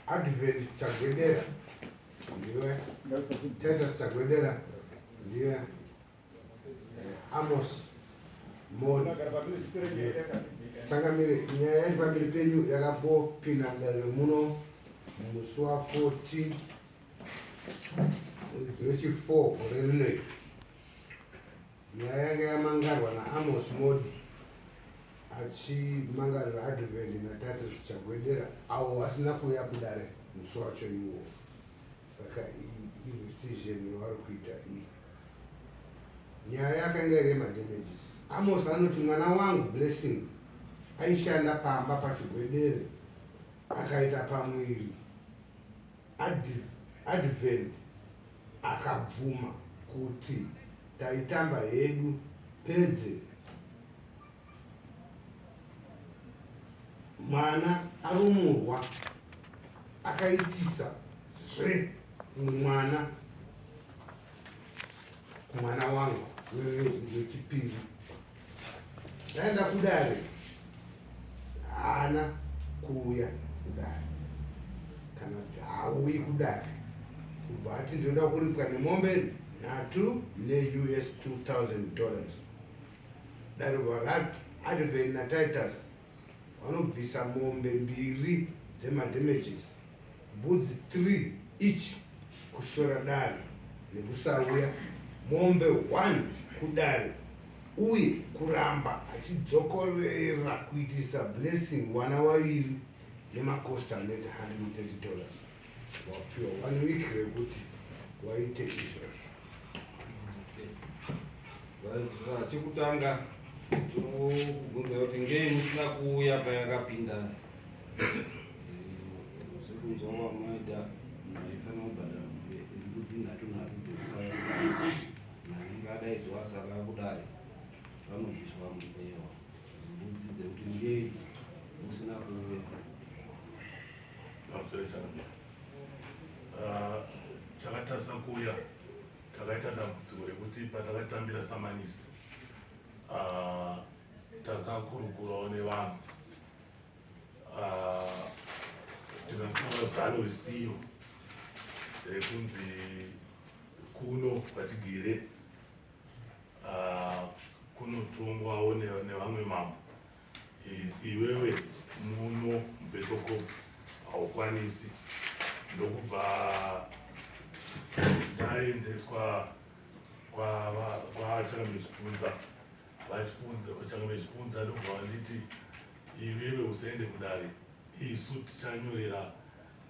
Advent Chagwedera ndiwe Titus Chagwedera ndiwe eh, Amos Moni changamire nyaya yacho pamberi penyu yakapopinda mudariro muno musi wa 14 Jechi 4 gore rino iri nyaya yanga yamangarwa naamos modi achimangarira advent natate zvichagwedera avo vasina kuuya kudare musi wacho iwo saka iresizhen yavari kuita iyi nyaya yakanga iri yemadamages amos anoti mwana wangu blessing aishanda pamba pachigwedere akaita pamwiri Advent akabvuma kuti taitamba hedu pedze mwana arumurwa akaitisa zve mwana mwana wangu wechipiri ndaenda kudare haana kuuya kudare kana haauyi kudare kubva ati ndinoda kuripwa nemombe nhatu neus 2000 dollars dare varati adven natitus vanobvisa mombe mbiri dzemadamages mbudzi 3 each kushora dare nekusauya mombe 1 kudare uye kuramba achidzokorera kuitisa blessing wana waviri nemakosi anoita 130 dollars wapiwa one week rekuti waite izvozvo chekutanga tinokubvunza kuti ngei musina kuuya payakapinda zvekunzwa kwamaita maifanira kubhadhara mbudzi nhatu nhatu dzekusaya nainge adaidzwa asaka kudare vanobviswa mupewa mbudzi dzekuti ngei musina kuuya pamusoro chakamira ah, chakatarisa kuuya takaita dambudziko rekuti patakatambira samanisi ah, takakurukurawo nevanhu ah, tikatora zano risiyo rekunzi kuno kwatigere kunotongwawo nevamwe mambo iwewe muno mubesoko haukwanisi ndokubva ndaendeswa kwavachanga mechipunza vachipunza vachanga mechipunza ndokubva vanditi iwewe usaende kudare isu tichanyorera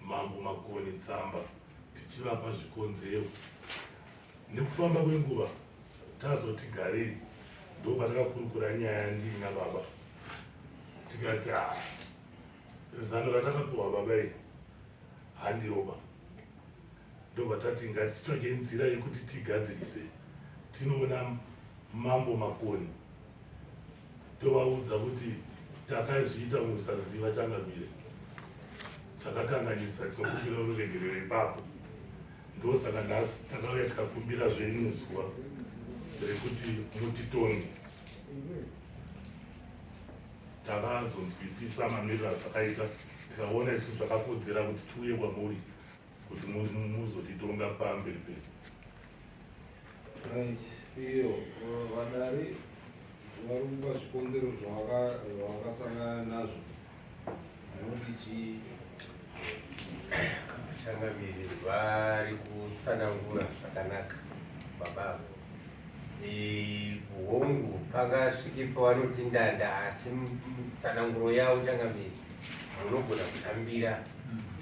Mambo Makoni tsamba tichivapa zvikonzero. Nekufamba kwenguva tazoti garei ndopatakakurukura nyaya ndii nababa tikati ah, zano ratakapiwa baba iri handiroba ndovatati ngatitsvage nzira yekuti tigadzirise tinoona mambo makoni tovaudza kuti takazviita mukusaziva changamire takakanganisa tinokumbira uregerero ipapo ndosaka nhasi takauya tikakumbira zvenyu zuva rekuti mutitonge takazonzwisisa mamiriro azvakaita tikaona isu zvakakodzera kuti tiuye kwamuri kuti muzotitonga pamberi pedu right iyo vadari vari kupa zvikonzero zvavakasangana nazvo vanoti chii vachangamiri vari kutsanangura zvakanaka baba avo hongu pakasvike pavanoti ndanda asi tsananguro yavo changamiri munogona kutambira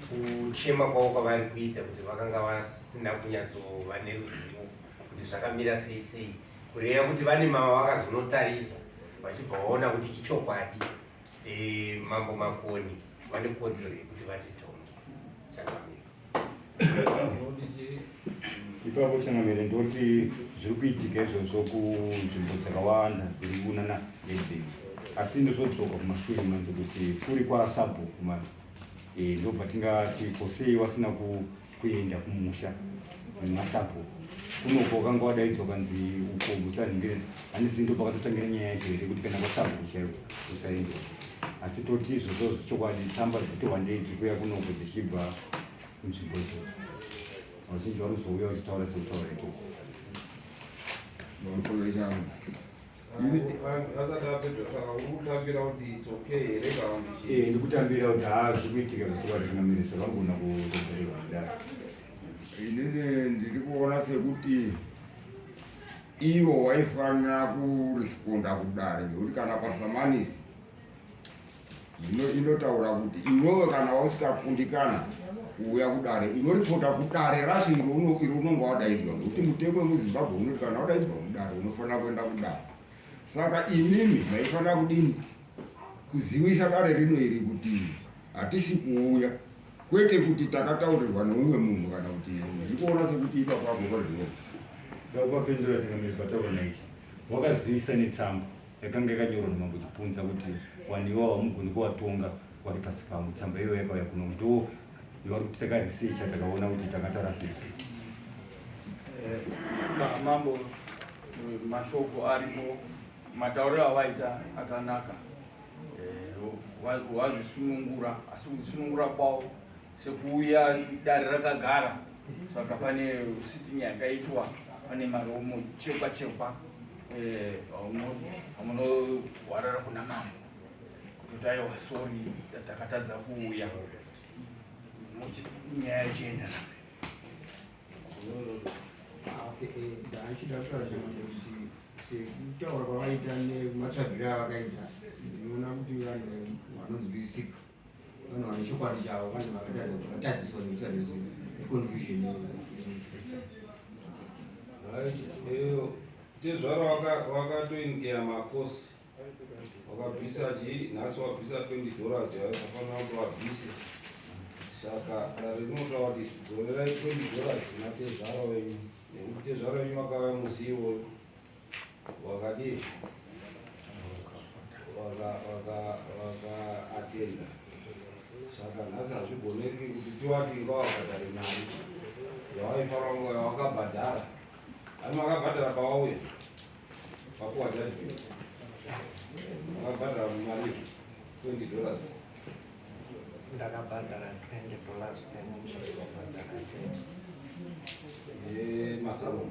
kuchema kwavo kwavari kuita kuti vakanga vasina kunyatsova neruzivo kuti zvakamira sei sei kureva kuti vane mava vakazonotarisa vachibva vaona kuti ichokwadi Eh, mambo makoni vane kodzero yekuti vati tongi changamire ipapo changamire ndoti zviri kuitika izvozvo kunzvimbo dzakawanda dziri kunana ledei asi ndozodzoka kumashure manzi kuti kuri kwasabhuku mani eh, ndobva tingati kosei wasina ku kuenda kumusha nemasabhuku kunoko wakanga wadaidzwa kanzi uko musanhire handizi ndo pakatotangira nyaya yacho here kuti kana kwasabhuku chaiwo usaende asi toti izvozvo zvechokwadi tsamba dzitowandei dzikuya kunoko dzichibva kunzvimbo idzodzo vazhinji vanozouya vachitaura sekutaura ikoko ndikutambira kuti haa zvikuitika zvichiwadzinamirisa vangona kutobereka kudaro inini ndiri kuona sekuti ivo waifanira kuresponda kudare ngekuti kana pasamanisi Zvino inotaura kuti iwewe kana wausikakundikana kuuya kudare unoripota kudare racho iro iro unonga wadaidzwa ngekuti mutemo wemuzimbabwe unoti kana wadaidzwa kudare unofanira kuenda kudare saka imimi maifanira kudini kuzivisa dare rino iri kuti hatisi kuuya kwete kuti takataurirwa neumwe munhu kana kuti zvikuona sekuti ipa kwako kwazvino vakupapindura tingamiri pataura naichi wakazivisa netsamba yakanga yakanyorwa naMambo Chipunza kuti vanhu ivo havamugoni kuvatonga vari pasi pangu. Tsamba iyoyo yakauya kuno ndo yavari kuti takarisecha takaona kuti tanga tarasisa. Eh, mambo eh, mashoko arimo matauriro avaita akanaka eh, wazvisunungura asi kusunungura kwavo Sekuuya dare rakagara saka pane sitting yakaitwa pane maromo chekwa chekwa eh, amunohwarara kuna mambo kuti aiwa sori takatadza kuuya nyaya ichienda ndaachida kutaura kuti sekutaura kwavaita nematsvagiro avakaita ndinoona kuti vanhu vanonzwisika Vanhu vane chokwadi chavo vane vakatadziswa nekusa nezvinhu confusion iyo tezvara wakatoingeya makosi wakabvisa chii nhasi wabvisa 20 dollars yayo kafanira kuti wabvise saka dare rinotaura kuti dzorerai 20 dollars kuna tezvara wenyu nekuti tezvara wenyu wakauya musi iwoyo Wakadii? Waka waka waka atenda. Saka nhasi hazvigoneki kuti tiwati inga wakadari mari yawaifara nguva yawakabhadhara. Ani wakabhadhara pawauya pakuwa judgment. Wakabhadhara mari 20 dollars. Ndakabhadhara 20 dollars payment. Eh, masalon.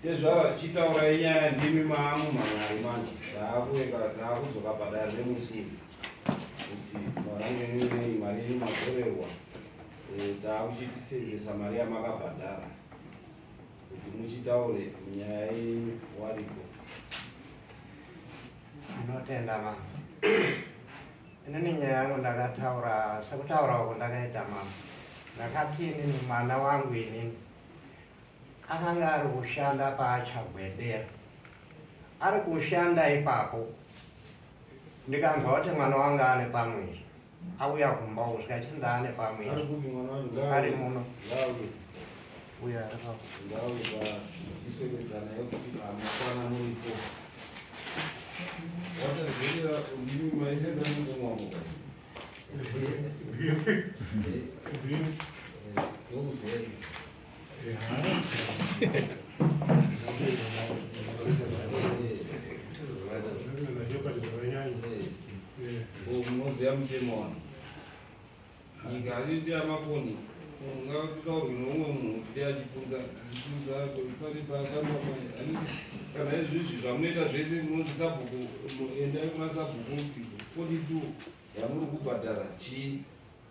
Ndezvava zvichitaura inyaya ndimi maamu mangari manje zvaakuweka zvaakudzoka padare remusini kuti marange ninei mari yenyu matorerwa eh, taakuchitisenzesa mari yamakabhadhara kuti muchitaure nyaya yenyu wariko ndinotenda mama inini nyaya yangu ndakataura sekutaurawo kundakaita mama ndakati inini mwana wangu inini Akange ari kushanda paachagwedera ari kushanda ipapo ndikanzwa kuti mwana wangu ane pamwiri auya kumba uko zvikachinzi ndaane pamwiri ari muno uya ndauvaiswekedzana yekuti amakwana muripo wataziva ndimi maisenda mungomwavo ndokuzei unoziva mutemo wano nyika atiti amafoni ungataurwe noumwe munhu kuti achipunza chipunza pari pakamama kana izvizvi zvamunoita zvese munonzi sabhuku endai kuna sabhuku 42 yamuri kubhadhara chii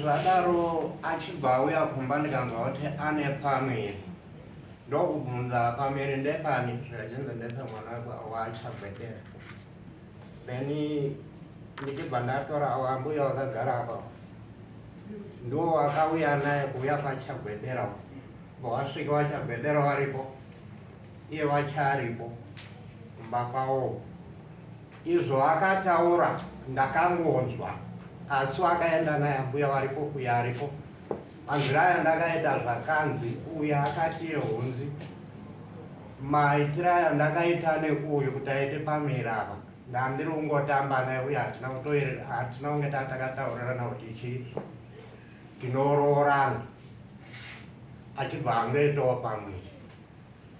zvadaro achibva auya kumba ndikanzwa kuti ane pamiri ndokubvunza pamiri ndepani zvichinzi ndepemwana wachabvetera then ndichibva ndatora wambuya wakagara apa ndo wakauya naye kuuya kwachabvedera bowasvika wachabvedera waripo iye wachaaripo kumba kwawo Izvo akataura ndakangonzwa asi wakaenda naye ambuya varipo uya aripo anziraya ndakaita zvakanzi uya akati yehunzi maitira andakaita nekuuyu kuti aite pamira apa ndandiri kungotamba naye uye hatina kutoerera hatina kunge taa takataurirana kuti chii tinoroorana achibva angoitawo pamwiri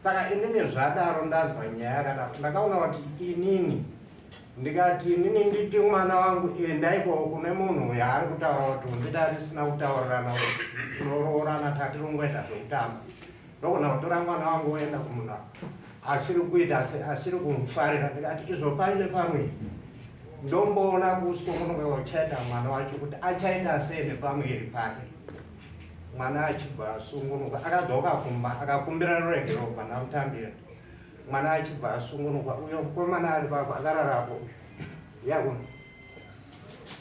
saka inini zvadaro ndanzwa nyaya yakadaro ndakaona kuti inini ndikati inini nditi mwana wangu enda ikoko kune munhu uyo ari kutaura kuti undida risina kutaurirana kuti tinoroorana tatirongweta zvekutamba ndogona kutora mwana wangu oenda kumunhu asiri kuita asiri kumufarira ndikati izvo paine pamwe ndomboona kusungunuka kucheta mwana wacho kuti achaita sei nepamuviri pake mwana achibva asungunuka akadzoka kumba akakumbira rurenge robva namutambira mwana achibva asungunuka uyo mukomana ari pako akararapo yakuna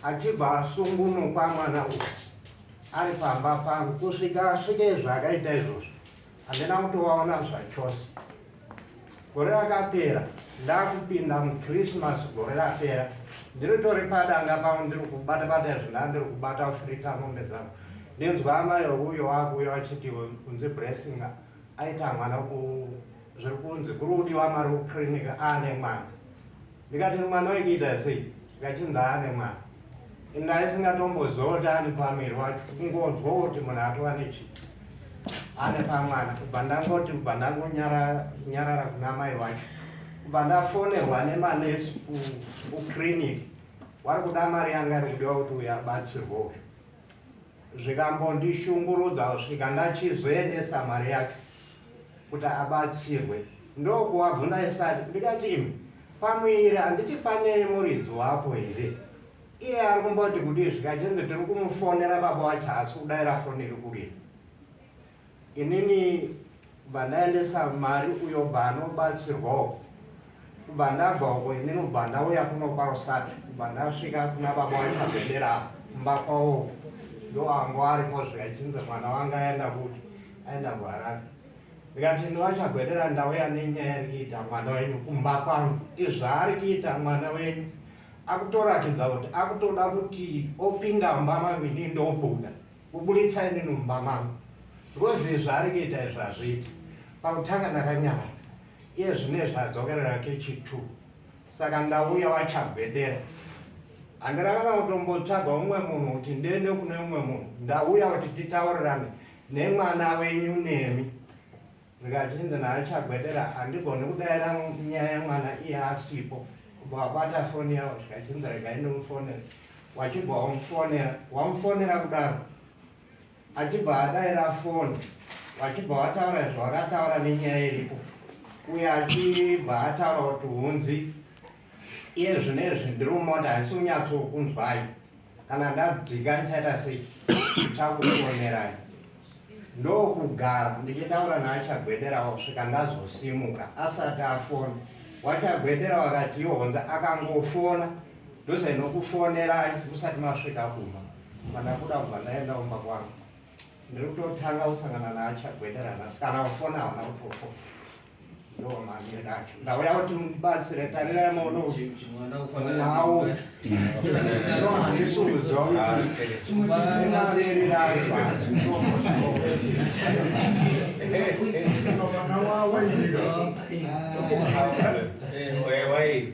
achibva asungunukwa mwana uyo ari pamba pangu kusvika asvike zvaakaita izvozvo handina kutovaona zvachose gore rakapera ndakupinda muchristmas gore rapera ndiritori padanga pavo ndiri kubata bata izvo ndaa ndiri kubata kufirita mombe dzangu ndinzwa amai uyo wakuuya vachiti kunzi blessing aita mwana zviri kunzi kuri kudiwa mari kuclinic aane mwana ndikati mwana wekuita sei ndikati ndaane mwana ndaisingatomboziva ani pamiri wacho kungonzwa kuti munhu atova nechi ane pamwana kubva ndangoti kubva ndangonyarara kuna mai wacho kubva ndafonerwa nemanesi kuclinic wari kuda mari yanga ari kudiwa kuti uyabatsirwowo zvikambondishungurudza kusvika ndachizoendesa mari yacho kuti abatsirwe ndokuvabvunza ndisati ndikati imi pamuviri handiti pane muridzi wapo here iye ari kumboti kudii zvikachinzi tiri kumufonera baba wacho haasi kudaira foni iri kurira inini bva ndaendesa mari uyo bva anobatsirwawo kubva ndabva uko ini nobva ndauya kuno kwarosada kubva ndasvika kuna baba waipabendera kumba kwavo ndoango aripo zviya chinzi mwana wanga aenda kuti aenda kuharare ndikati ndovachagwedera ndauya nenyaya ari kuita mwana wenyu kumba kwangu izvaari kuita mwana wenyu akutoratidza kuti akutoda kuti opinda mumba mangu ini ndobuda kuburitsa ini nomumba mangu because izvaari kuita izvazviita pakutanga ndakanyarara Iye zvinezvi adzokerera hake chitu saka ndauya wachagwedera handina kana kutombotsvaga umwe munhu kuti ndiende kune umwe munhu ndauya kuti titaurirane nemwana wenyu nemi ndikachinzi naachagwedera handigoni kudaira nyaya yemwana iye asipo kubva wabata foni yavo zvikachinzi regai ndimufonera wachibva wamufonera wamufonera kudaro achibva adaira foni vachibva vataura zvavakataura nenyaya iripo uye achibva ataura kuti hunzi iye zvinezvi ndiri kumota handisi kunyatsokunzwai kana ndadzika ndichaita sei chakukuonerai ndokugara ndichitaura naachagwedera kusvika ndazosimuka asati afona wachagwedera wakati ihonza akangofona ndosainokufonerai musati masvika kuma Mandakuda kubva ndaenda kumba kwangu. Ndiri kutotanga kusangana naachagwederana sikana ufona hauna kutofo. Ndoo mamire acho. Ndauya kuti mubatsire tarirai maono awo. Ndoo handisi kuziva kuti chimuchiri racho. Mwana wawo iye. Wewe.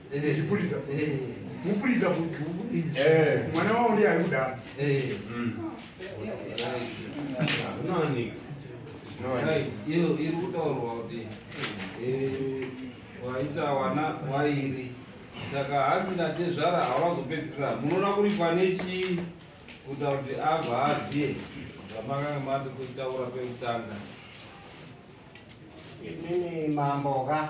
Chipurisa. Mupurisa kuti mwana wavo ndiye ari kudaro. Unowanika. Iyo iri kutaurwa kuti waita wana wairi saka hanzi natezvara hawazopedzisa munoona kuri pane chii kuita kuti abva aziye zvamakanga mati kutaura kwekutanga. Inini mambo ka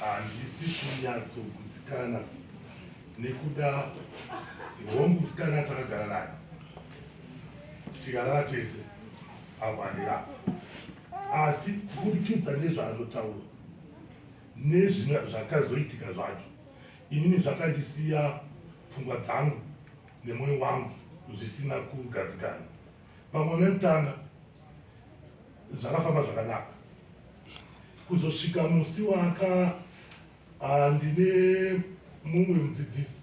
handisi kunyatsogutsikana nekuda hongu musikana takagara nayo tikarara tese apo handirapo Asi kuburikidza nezvaanotaura nezvimwe zvakazoitika zvacho, inini zvakandisiya pfungwa dzangu nemwoyo wangu zvisina kugadzikana. Pamwe nekutanga zvakafamba zvakanaka kuzosvika musi waka ah, ndine mumwe mudzidzisi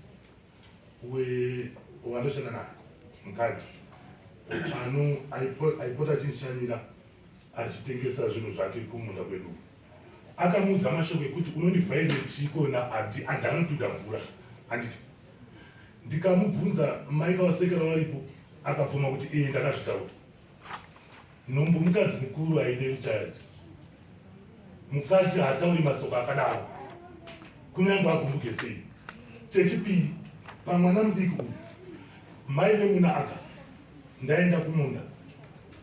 wevanoshanda naye mukadzi pano aipota achinishanyira achitengesa zvinhu zvake kumunda kwedu akamuudza mashoko ekuti unondivhaire chiko naadi adi anotuda mvura anditi ndikamubvunza mai kavasekera varipo akabvuma kuti iye ndakazvitaura nhumbu mukadzi mukuru aide kuchaji mukadzi haatauri masoko akadaro kunyange agumbuke sei chechipiri pamwana mudiki uyu mai vemuna agast ndaenda kumunda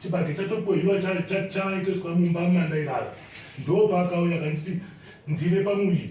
chibage chatokohiwa chaitoswa mumba mandairara ndopaakauya kanditi ndine pamuviri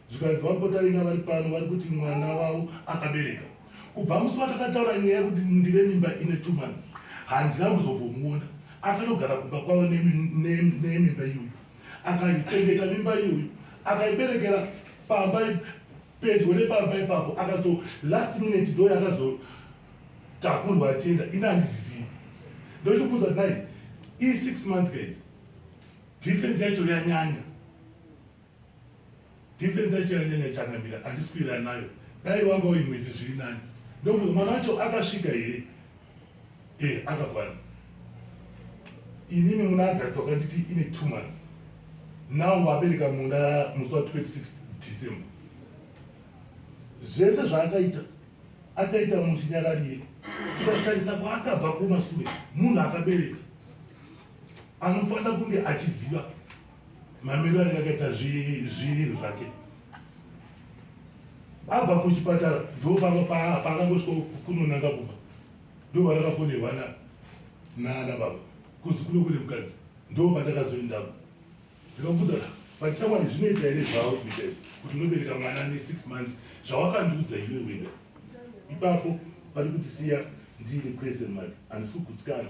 Zvikanzi VaMpotaringa vari pano vari kuti mwana wavo akabereka. Kubva musi watakataura nyaya yekuti ndine mimba ine two months, handina kuzombomuona. Akanogara kumba kwavo nemimba iyoyo, akaichengeta mimba iyoyo, akaiberekera pamba pedyo nepamba ipapo, akazo last minute ndo yakazotakurwa achienda, ini handizizivi. Ndochibvunza kuti nai, ii six months guys, difference yacho yanyanya. Defense yacho yanyanya changamira andiswira nayo. Dai wanga uyu mwedzi zviri nani. Ndokuti mwana wacho akasvika here? Eh, akakwana. Inini muna August wakanditi ine 2 months. Now wabereka muna musi wa 26 December. Zvese zvaakaita akaita muchinyararire tikatarisa kwaakabva kumasure munhu akabereka anofanira kunge achiziva Mamiriro anenge akaita zviiri zvake abva kuchipatara ndo paakangosvika kunonanga kumba ndo vandakafonerwa naana baba kuzi kuno kune mukadzi ndo vandakazoendako ndikabvunza vatichakwani zvinoita here zvavo kuita kuti unobereka mwana ne six months zvawakandiudza iwe wena ipapo vari kutisiya ndiine question mark handisi kugutsikana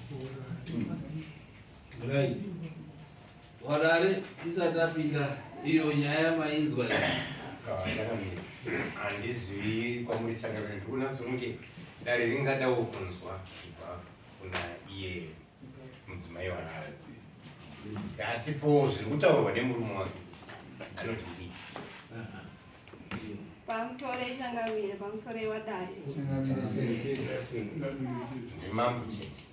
Right. Warare tisati tapinda iyo nyaya mainzwa handizwi kwamuri changamire ndikuona songe dare ringadawo kunzwa kubva kuna iye mudzimai wanayo hatipowo zviri kutaurwa nemurume wake anoti pamusoro ichangamire pamusoro iwadare nemambo chete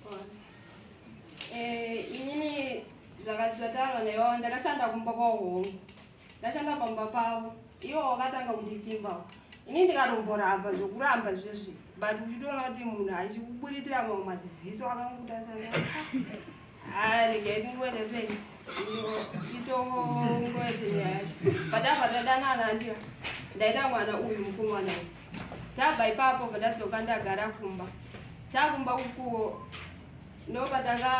eh, inini zvakati zvataurwa naiwawo ndakashanda kumba kwahongu ndashanda pamba pavo iwo wakatanga kundipfimbawo ini ndikatomboramba zvokuramba zvezvi but uchitoona kuti munhu achikuburitsira mamwe maziziso akangokutasana Ah, regai tingonesei. Itongoetenyaya. Padabva tadanana handiyo. Ndaida mwana uyu mukomana uyu. Tabva ipapo padadzoka ndagara kumba. Takumba ukuwo ndopatanga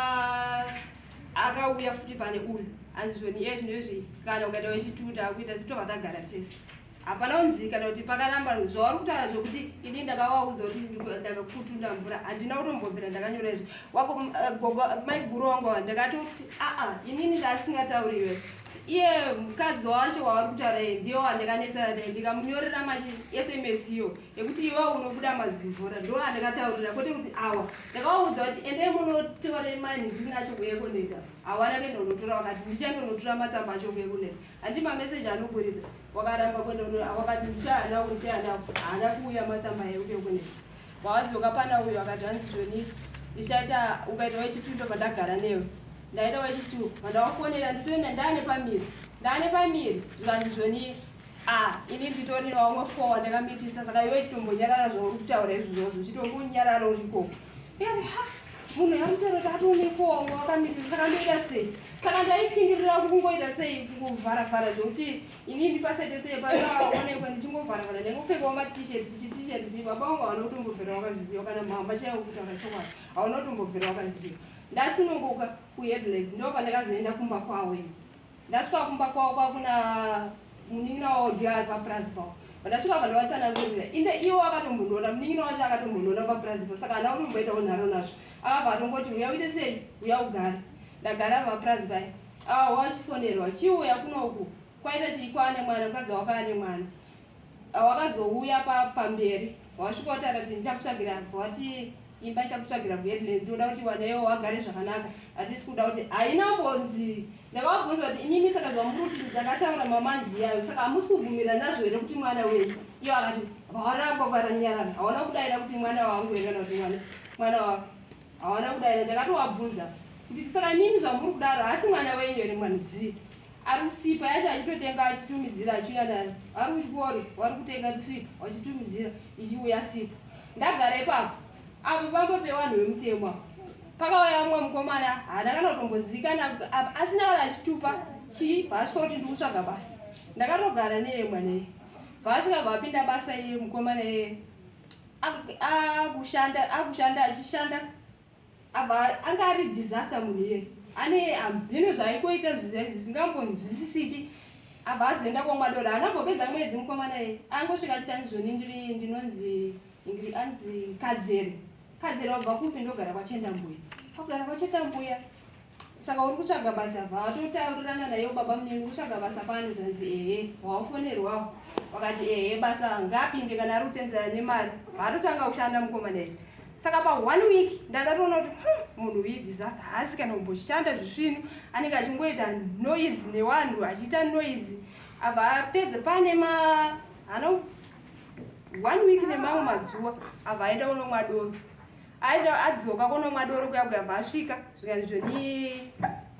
akauya futi pane uyu anzizvoni iye zvinoizvi kana ukaita wechituta kuita sitova tagara tese hapana unzii kana kuti pakaramba zvauri kutaura zvokuti ini ndakavaudza kuti ndakakutunda mvura handina kutombobvira ndakanyora izvo wako eh, gogo mai guru wangu wa ndakatoti aa inini ndaasingatauri iwe iye mukadzi wacho wavari kutaura iye ndiyo wandakanetsana naye ndikamunyorera machi sms iyo yekuti iwe unobuda mazimvura ndo andakataurira kwete kuti awa ndakawaudza kuti endei munotora mani ndiri nacho kuye kuneta hawana kenda unotora wakati ndichandonotora matsamba acho kuye kuneta Handi mamessage anoburitsa wakaramba kwenda uno awakati ndichaana uyu ndichaana haana kuuya matsamba yeuke kune wawadzoka pana uyu akati hanzi zvoni ndichaita ukaita wechitu ndobva ndagara newe ndaita wechitu vandawafonera nditoenda ndaane pamiri ndaane pamiri zvikanzi zvoni a ini nditorina wamwe four ndakamitisa saka iwe chitombonyarara zvauri kutaura izvozvozvo chitombonyarara urikoko munhu yamutorota atonefongo akamirira saka ndoita sei saka ndaishingirira kungoita sei kungovharavhara zvekuti ini ndipasaite sei pasaonekwa ndichingovharavhara ndaingopfekawo matishet chitishet chi baba wangu hauna kutombobvira wakazviziva kana mhamba chaivo kuti akachokwadi hauna kutombobvira wakazviziva ndasununguka kuheadless ndo pandakazoenda kumba kwawo ini Ndasvika kumba kwavo kwakuna munin'ina wavo ndiye ari papurazi pavo. Pandasvika vandavatsanangurira inde ivo akatombondiona munin'ina wacho akatombondiona papurazi pavo saka ana kutomboitawo nharo nazvo. Akabva atongoti uya uite sei uya ugare. Ndagara papurazi paye. Awa wachifonerwa chiuya kunoku kwaita chii kwaane mwana mukadzi wako ane mwana. Awakazouya pa pamberi wasvika wati akati ndichakutsvagira abva wati imba ichakutsvagira kuheadland ndoda kuti wanewo wagare zvakanaka hatisi kuda kuti haina mbonzi ndakavabvunza kuti imimi saka zvamuri kuti ndakataura mamanzi yayo saka hamusi kubvumira nazvo here kuti mwana wenyu iyo akati vawaramba varanyarana hawana kudaira kuti mwana wangu here kana kuti mwana mwana wako hawana kudaira ndakatovabvunza kuti saka imimi zvamuri kudaro haasi mwana wenyu here mwana dzii ari kusipa yacho achitotenga achitumidzira achiuya nayo ari kuchikoro wari kutenga kusipa wachitumidzira ichiuya sipa ndagara ipapo apo pambo pevanhu vemutemo apo pakauya vamwe mukomana haana kana kutombozivikana asina kana achitupa chii paasvika kuti ndi kutsvaga basa ndakatogara neye mwana iye paasvika vapinda basa iye mukomana iye akushanda achishanda Ava anga ari disaster munhu iye. Ane hamheno zvaikoita zvisingambonzwisisiki. Ava azoenda kwaMwadora. Haana kumbopedza mwedzi mukomana iye. Angosvika achiti andizvoni ndiri ndinonzi Ingrid anzi Kadzere. Kadzere wabva kupi ndogara kwaChendambuya. Kwakugara kwaChendambuya. Saka uri kutsvaga basa bva watotaurirana nayo baba munini kutsvaga basa pano zvanzi ehe wawafonerwawo wakati ehe basa ngaapinde kana ari kutenderana nemari vaatotanga kushanda mukoma naye saka pa one week ndandatoona kuti hmm, munhu uyi disaster haasi kana kumboshanda zvisvino anenge achingoita noise newanhu achiita noise abva apedza pane ma hano one week nemamwe mazuva abva aenda unomwa doro aida adzoka konomwa doro kuya kuya bvaasvika zvikanizvo ni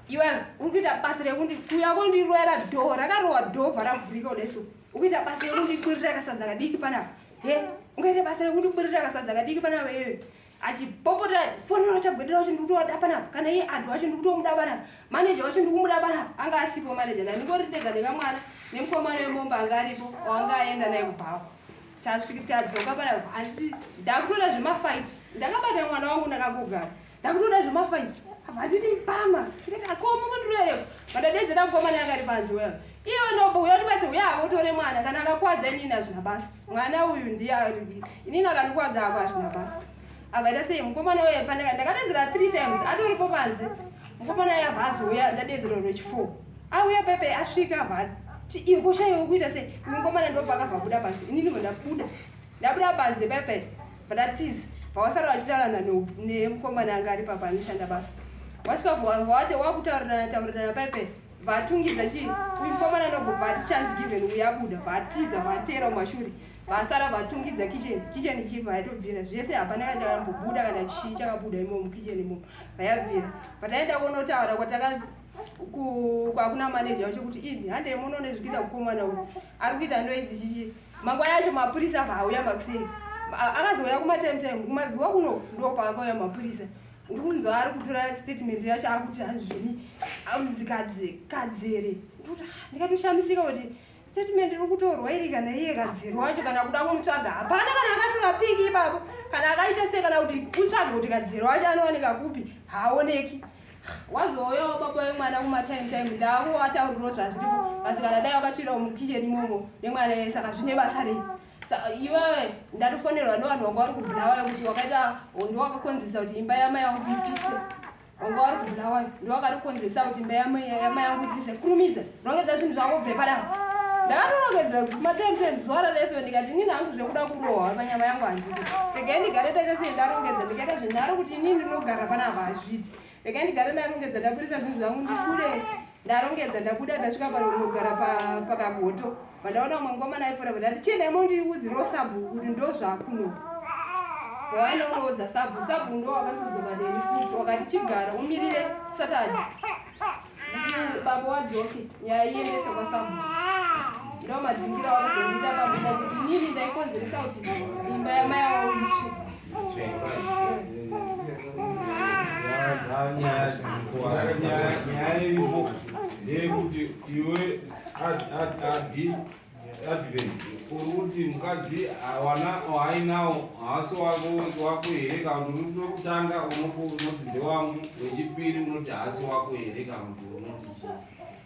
iwe uri kuita basa rekuti kuya kondiroera dho rakarowa dhovha ravhurika kudaso ukuita basa rekundikwirira kasadza kadiki panapa he ungaita basa rekundikwirira kasadza kadiki panapa iwe achipopota foni rachagwedera wacho ndikutoda panapa kana iye adhu wacho ndikutomuda panapa maneja wacho ndikumuda panapa anga asipo maneja nani ngori ndega nekamwana nemukomana wemomba anga aripo wanga aenda naye kubhako tasvika tadzoka pana hanti ndakutoda zvemafight ndakabata mwana wangu ndakangogara ndakutoda zvemafight handiti mpama ndikati akomo kundirayo vandadedzera mukomana akari panzi well iye unobo uya ndibatse uya akotore mwana kana akakwadza inini hazvina basa mwana uyu ndiye inini akandikwadzako hazvina basa ava ita sei mukomana uya pandaka ndakadedzera three times atoripo panze mukomana uya abva azouya ndadedzera rwechifour auya pepe asvika abva ti iwe koshaiwe kuita sei mukomana ndopakabva buda panze inini bva ndabuda ndabuda panze pepe bva ndatiza pawasara vachitarana nemukomana anga ari papa anoshanda basa wasvika vawate wakutaurirana taurirana pepe vatungidza chii mukomana anobva vati chance given uyabuda vatiza vatera mumashuri vasara vatungidza kitchen kitchen ichibva yaitobvira zvese hapana kana chakambobuda kana chii chakabuda imomo mukitchen imomo vayabvira pataenda kunotaura kwataka kwakuna maneja wacho kuti ini handei munoone zvikuita kukomana uyu ari kuita noizi chichi mangwana acho mapurisa vauya makusei akazouya kumatime time kumazuva kuno ndo paakauya mapurisa ndikunzwa ari kutora statement yacho akuti hazvini amzikadzi kadzere ah, ndikatoshamisika kuti Statement iri kutorwa iri kana iye kadziri wacho kana kuda kumutsvaga hapana kana akatora piki ipapo kana akaita sei kana kuti kutsvage kuti kadziri wacho anowanika kupi haaoneki wazouyawo baba vemwana kumatime time ndavo atauriro zvazviripo asi kana dai wakatsvirawo mukicheni imomo nemwana yeye saka zvine basa rei iwewe ndatofonerwa nevanhu vanga vari kubhirawayo kuti wakaita hondo wakakonzesa kuti imba yamai yangu ipiswe wanga wari kubulawayo ndiwakarikonzesa kuti imba yama yangu ibvise kurumidza rongedza zvinhu zvako bve padaro ndakatorongedza matemtem zuva raleso ndikati inini hangu zvekuda kurohwa panyama yangu handii regai ndigare taita sei ndarongedza ndikaita zvinharo kuti inini ndinogara panapa hazviti regai ndigare ndarongedza ndaburisa zvinhu zvangu ndibude ndarongedza ndabuda ndasvika pano ndinogara pakagoto vandaona umwe mukomana aifora vandati chiendai mondiudzirawo sabhuku kuti ndo zvakuno vavanongoudza sabhu sabhu ndo wakasudzoka neni futi wakati chigara umirire satadi baba wadzoki nyaya iendesa kwasabhu ndo madzingira wakazoita pamuda kuti nyini ndaikonzeresa kuti imba yamai awo isvi ndeyekuti iwe adhi advent uri kuti mukadzi hawana waainawo haasi wako wako here kana kuti uri kutanga unoti ndewangu wechipiri unoti haasi wako here kana kuti unoti chii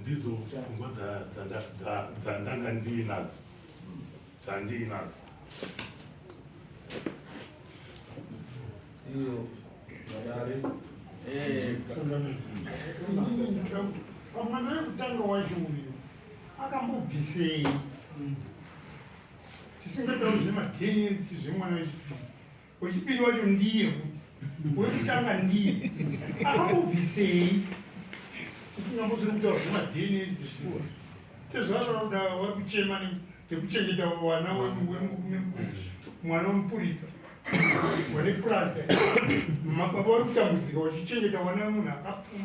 Ndidzo pfungwa dzandanga ndiinadzo dzandiinadzo iyo madare pamwana wekutanga wacho uyu akambobvisei tisingatauri zvematenisi zvemwana wechipiri Wechipiri wacho ndiye wekutanga ndiye akambobvisei usingambozori kutaura zvemadns zviwa tezvavakuda vari kuchema nekuchengeta wana mwana wemupurisa wane purazi mababa vari kutambudzika wachichengeta wana munhu akapfuma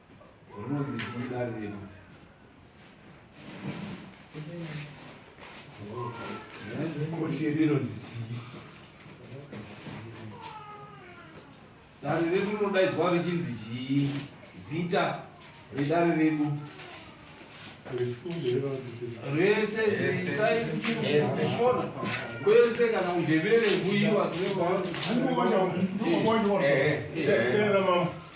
dare redu rinodaidzwa richinzi chii zita redare redu rese isaishona kwese kana kundevere kuiwa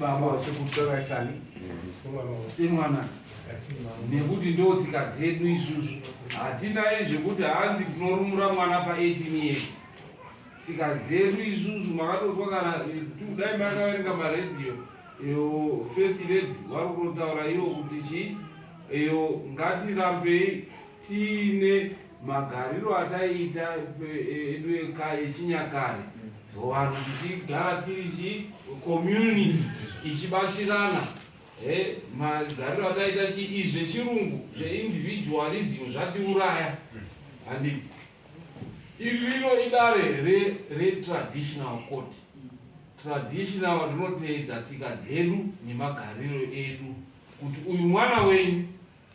baba vachikutora kani semwana nekuti ndo tsika dzedu isusu hatinaye zvekuti hanzi tinorumura mwana pa18 years tsika dzedu isusu makatozwa kana dai makaverenga maradio iyo first lady vari kunotaura iyo kuti chii iyo ngatirambei tiine magariro ataiita edu echinyakare vanhu tichigara tiri chi community ichibatsirana magariro ataiita chii zvechirungu zveindividualism zvatiuraya handi iri rino idare retraditional court traditional rinoteedza tsika dzedu nemagariro edu kuti uyu mwana wenyu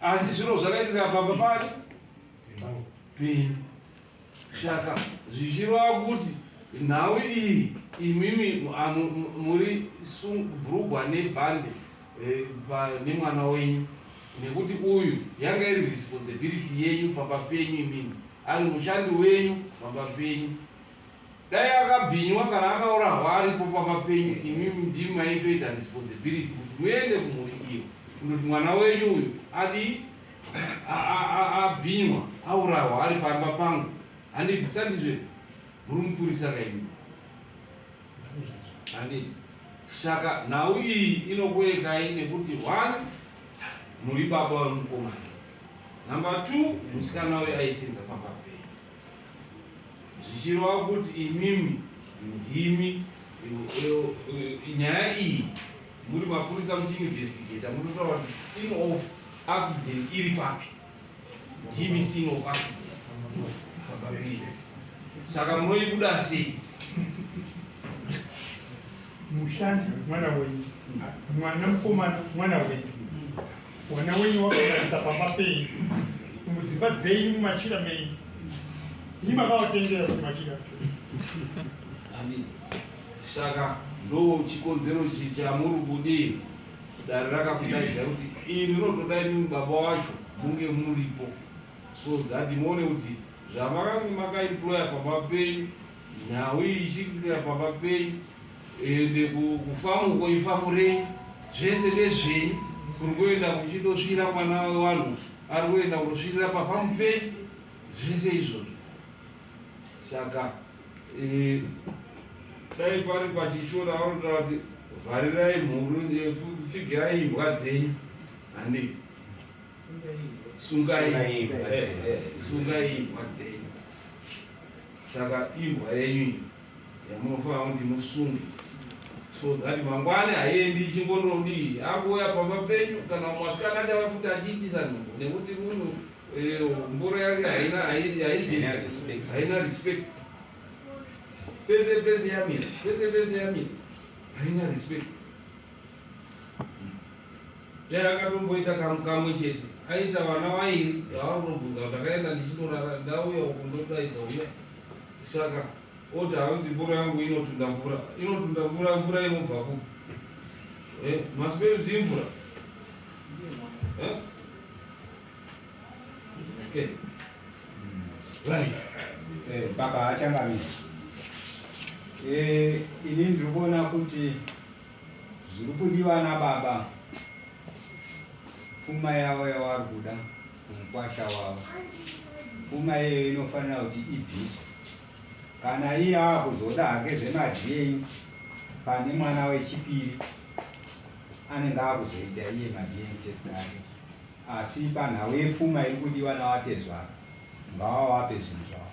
asi zviro zvakaitika pamba pari peni saka zvichirova kuti nhau iyi imimi muri brugwa nebhande eh, nemwana wenyu nekuti uyu yanga iri responsibility yenyu pamba penyu imimi ari mushandi wenyu pamba penyu Dai akabhinywa kana akaurahwa aripo pamapenyu imi ndimi maitoita responsibility kuti muende kumhuri iyo kundoti mwana wenyu uyu adii abhinywa aurahwa ari pamba pangu handiti sandizve muri mupurisa kaimi handiti saka nhau iyi inokuekai nekuti one muri baba vemukomana number two musikana uyo aisenza pamba penyu zvichireva kuti imimi ndimi nyaya iyi muri mapurisa muchiinvestigata munotaura kuti scene of accident iri papi ndimi scene of accident pababirira saka munoibuda sei mushandi mwana wenyu mwana mukomana mwana wenyu Mwana wenyu wakatarisa pamba penyu mudzimba dzenyu mumachira menyu ini makawatengera kuti machira saka ndo chikonzero chamuri kudii dare rakakudaidza kuti iri rinotoda imimi baba wacho munge muripo so that muone kuti zvamakange makaemploya pamba penyu nhau iyi ichiitika pamba penyu ende kufamu uko ifamurei zvese ndezvenyu kuri kuenda kuchindosvira mwana wevanhu ari kuenda kunosvirira pafamu penyu zvese izvozvo saka eh, dai pari pachishora vanotaura kuti vharirai mhuru eh, pfigirai imbwa dzenyu handi sungai imbwa dzenyu saka imbwa yenyu iyi Yamunofanira ndimusunge so that mangwani haiendi ichingondodii akuuya pamba penyu kana mwasikana achava futi achiitisa nhumbu nekuti munhu eh, mboro yake haina haina respect pese pese yamira pese pese yamira haina respect Dai akatomboita kamu kamwe chete aita vana vairi vaari kunobvunza kuti akaenda ndichinorara ndauya uku ndodaidza uya saka oti hanzi mboro yangu inotunda mvura inotunda mvura mvura inobva ku eh, masiperi dzimvura eh? okay. right. eh, baba achangamira eh, ini ndiri kuona kuti Zvirikudiwa nababa pfuma yavo yavari kuda mukwasha wavo. Pfuma iyeyo inofanira kuti ibviswe. Kana iye akuzoda hake zvemadna pane mwana wechipiri anenge akuzoita iye madna test ake. Asi panhau yepfuma iri kudiwa navatezvara ngavawape zvinhu zvavo.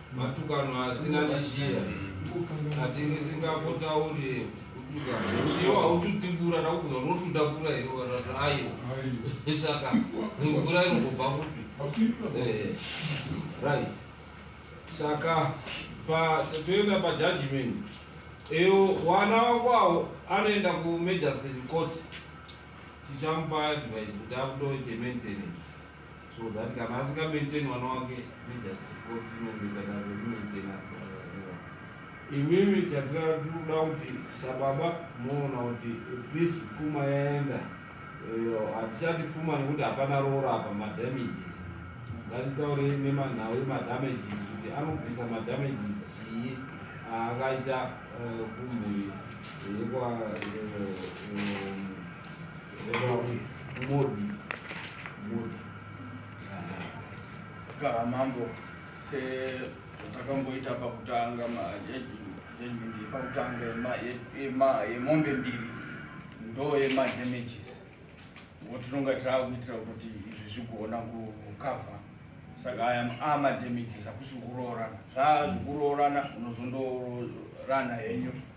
Matukano asina neshira asi ndisingapotauri iyo haututi mvura ndakukuza unotuda mvura here varati ayo saka mvura inongobva kupi eh, right saka toenda pajudgment iyo wana wako awo anoenda kumagistrate court tichamupa advice kuti akutoite maintenance so that kana asika maintain mwana wake nejasikotinomitanaemaintena imimi chatirakuda kuti sababa moona kuti please pfuma yaenda hatichati pfuma nekuti hapana roora apa madamages ngatitaure nemanhau emadamages kuti anobvisa madamages chii aakaita eh, kumhuri yekwa eh, eh, Kaa mambo setakamboita pakutanga pakutanga yemombe mbiri ndo yemadamages ngo tinonga taakuitira kuti izvi zvigona kukavha saka aya amadamages akusi kuroorana zvaazvikuroorana unozondorana henyu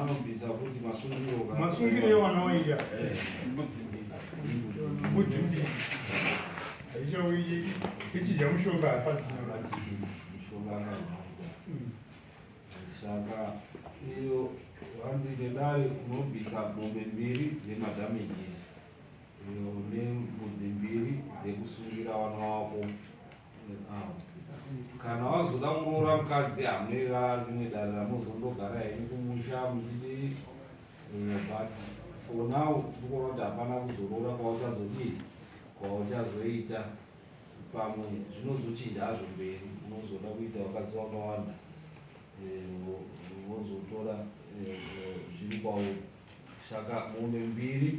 anobvisa kuti masungiro masungiro ewana waida mudzimbira aichauyi ichidya mushonga hapasina saka iyo hanzi nedare unobvisa mombe mbiri dzemadamages iyo nembudzi mbiri dzekusungira wana wako kana wazoda kuroora mukadzi amera rimwe dare ramozondogara henyu kumusha muchidii eh, but for now tikuona kuti hapana kuzoroora kwauchazodii kwauchazoita pamwe zvinozochinja hazvo mberi unozoda kuita vakadzi vakawanda eh, vozotora eh, zviri kwauri saka mombe mbiri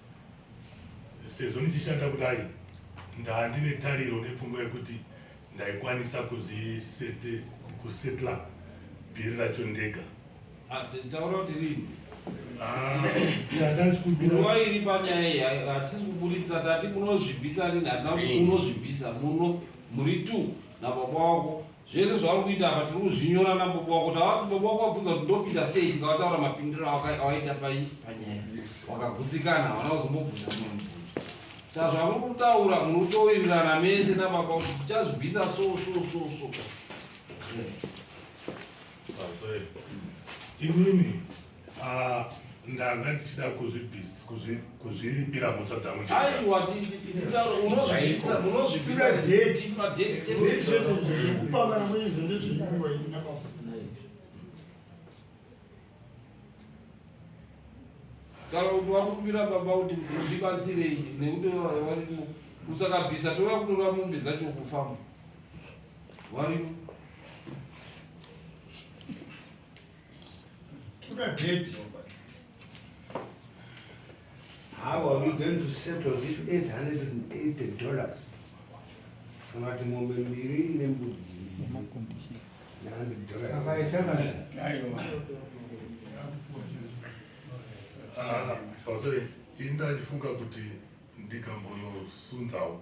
sezvo ndichishanda kudai ndandine tariro nepfungwa yekuti ndaikwanisa kuzvisete kusetla bhiri racho ndega taura kuti rini ndandachikumbirawairi ah, panyaya iyi hatisi kuburitsa tati munozvibvisa rini hatina kuti munozvibvisa muno muri two nababa wako Zvese zvauri kuita apa tiri kuzvinyora nababa wako tavati baba wako wabvunza kuti ndopinda sei tikavataura mapindiro awaita pai panyaya wakagutsikana havana kuzombobvunza mumwe mubvunzo saka zvamuri kutaura muri kutowirirana mese nababa kuti tichazvibvisa so so so so inini Ah, ndanga ndichida kuzvibvis- kuzvi- kuzviripira mhosva dzangu ndega. aiwa munozvipisa deti madeti zvekupangana mwenizvo ndezvenguva iyi napapa kana kuti wakumbira baba kuti ndibatsirei nekuti varimo usakabvisa tova kutora mombe dzacho kufamba varimo How are we going to settle this 880 dollars? Unati ng'ombe mbiri nembudzi Sorry, inda ifunga kuti ndikambonosunzawo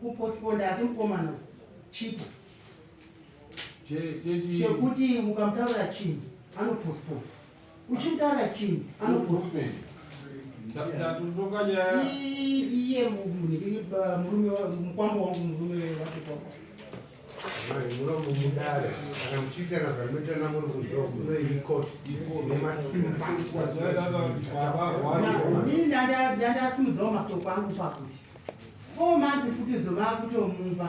kuposponda ati mukomana chipo chekuti ukamutaurira chinhu anoposponda uchimutaurira chinhu anoposponda iye murume mukwambo wangu murume wake kwako munomudare kana muchiitana zvamutana muri kuzvokunoiikotinemasimba ndandasimudzao masoko angu pakuti Four months futi dzovakutomupa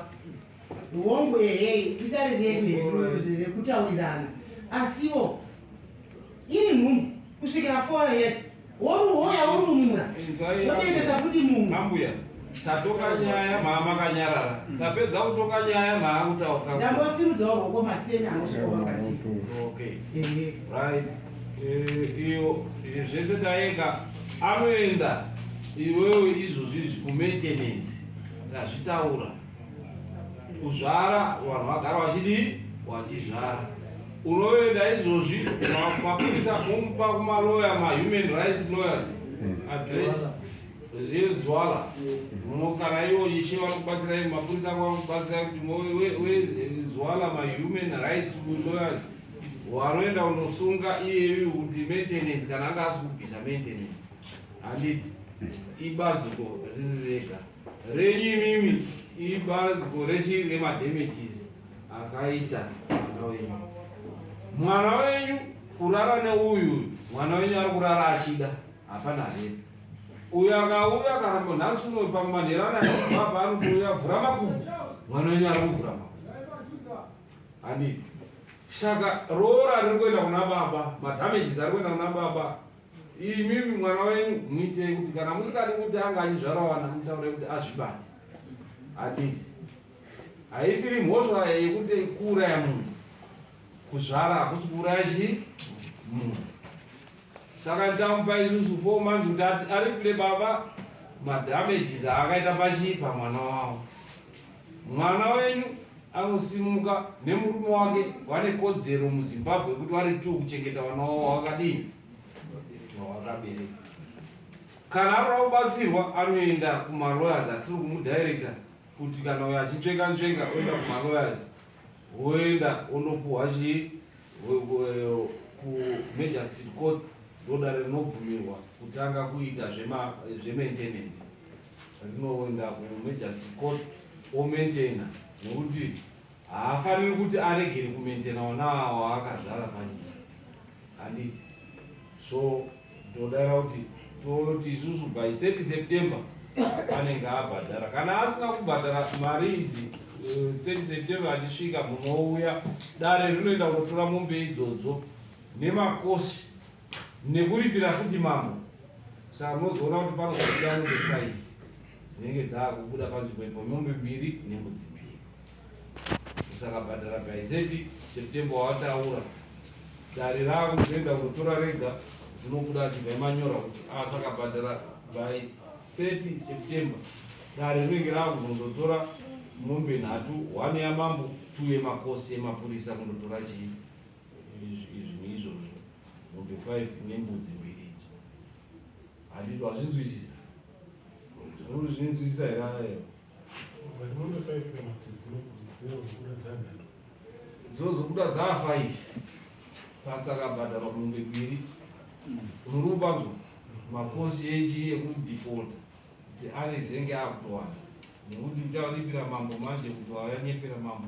hongu ehe idare redu rekutaurirana asiwo ini nhumbu kusvikira four years woruhoya worumura wotengesa futi mumwe ambuya tatoka nyaya mhama kanyarara mm. tapedza kutoka nyaya mhaa kutauka ndambosimudzawo roko maseni anosvikoaaiyo eh, zvese taeka anoenda Iwewe izvozvi izvi kumaintenance ndazvitaura kuzvara vanhu vagara vachidii wachizvara unoenda izvozvi mapurisa momupa kumaloya mahuman rights lawyers hmm. address rezwala muno kana iwo ishe vakubatsirai mapurisa ako vakubatsirai kuti wezwala mahuman rights lawyers wanoenda unosunga iyeyu kuti maintenance kana anga asi kubvisa maintenance handiti ibaziko riri rega renyu imimi ibaziko rechii remadamages akaita mwana wenyu mwana wenyu kurara neuyu mwana wenyu ari kurara achida hapana hee uyo akauya kana ponhasi uno pamanherana baba anotouya vhura makumu mwana wenyu ari kuvhura makumu handiti saka roora riri kuenda kuna baba madamages ari kuenda kuna baba Imimi mwana wenyu muitei kuti kana musingadi kuti anga achizvara wana mutaure kuti azvibate. Adii. Haisiri mhosva yekuti kuuraya munhu. Kuzvara hakusi kuuraya chii? Munhu. Saka tamupa isusu four months kuti aripire baba madamages aakaita pachii pamwana wavo. Mwana wenyu anosimuka nemurume wake vane kodzero muZimbabwe kuti vari two kuchengeta vana wavo wakadii wakabereka. Kana arora kubatsirwa anoenda kumalawyers atiri kumudirector kuti kana uyo achitsveka ntsveka oenda kumalawyers woenda onopuhwa chii kumagistrate court ndodare rinobvumirwa kutanga kuita zvemaintenance rinoenda kumejasi court omaintaina nekuti haafaniri kuti aregere kumaintaina ona waakazvara panyika handiti so ndodara kuti toti isusu by 30 september anenge abhadhara kana asina kubhadhara mari idzi 30 eh, september achisvika munouya dare rinoenda kunotora mombe idzodzo nemakosi nekuripira futi mambo saka munozoona kuti panozobuda mombe faive dzinenge dzaakubuda panzvimbo ipo mombe mbiri nembudzi mbiri musakabhadhara bhaizeti september wataura dare ravo kuenda kunotora rega dzinobuda achibva imanyora kuti asakabhadhara ah, by 30 september dare rinenge rava kuzondotora mombe nhatu one yamambo two yemakosi emapurisa kundotora chii izvinhu izvozvo mombe 5 nembudzi mbiri idzo handito hazvinzwisisa zvinzwisisa here ayo dzozobuda dzaa 5 pasakabhadharwa mombe mbiri unorubanzo makosi echi ekudefaulta kuti anezenge akutowana nekuti ucharipira mambo manje kuti wayanyepera mambo